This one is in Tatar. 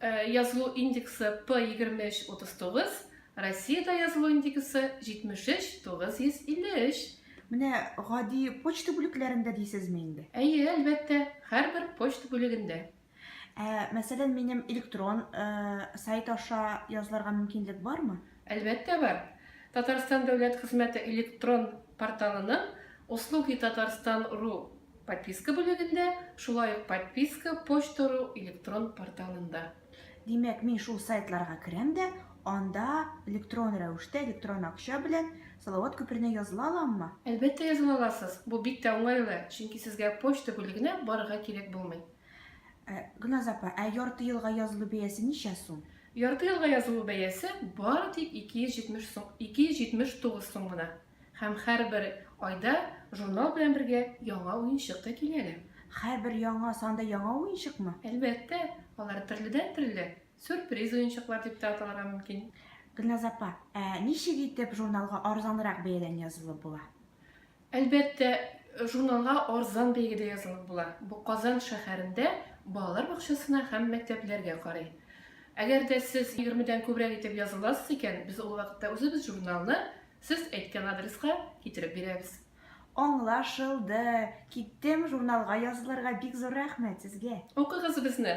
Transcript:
Язылу индексы P23 39, Россиядә язылу индексы 73 953. Менә гади почта бүлекләрендә дисезме инде? Әйе, әлбәттә, һәрбер почта бүлегендә. Ә, мәсәлән, минем электрон сайт аша язылырга мөмкинлек бармы? Әлбәттә бар. Татарстан дәүләт хезмәте электрон порталының Услуги Татарстан ру Подписка бүлегендә, шулай ук Подписка почта.ру электрон порталында. Димәк, мин шул сайтларга керәм дә, анда электрон рәвештә, электрон акча белән Салават күперенә языла аламмы? Әлбәттә языла аласыз. Бу бик тә уңайлы, чөнки сезгә почта бүлегенә барырга кирәк булмый. Ә, Гөлназ апа, ә ярты елга язылу бәясе ничә сум? Ярты елга язылу бәясе бары тик 270 сум, 279 сум гына. Һәм һәрбер айда журнал белән бергә яңа уенчык та килә әле. Һәрбер яңа сан да яңа уенчыкмы? Әлбәттә, алар төрледән-төрле, сюрприз уенчыклар дип тә аталырга мөмкин. Гөлназ апа, ә ничек итеп журналга арзанрак бәядән язылып була? Әлбәттә, журналга арзан бәягә дә язылып була. Бу Казан шәһәрендә балалар бакчасына һәм мәктәпләргә карый. Әгәр дә сез егермедән күбрәк итеп языласыз икән, без ул вакытта үзебез журналны Сез әйткән адреска китереп бирәбез. Аңлашылды! Киттем, журналга язылырга, бик зур рәхмәт сезгә! Укыгыз безне!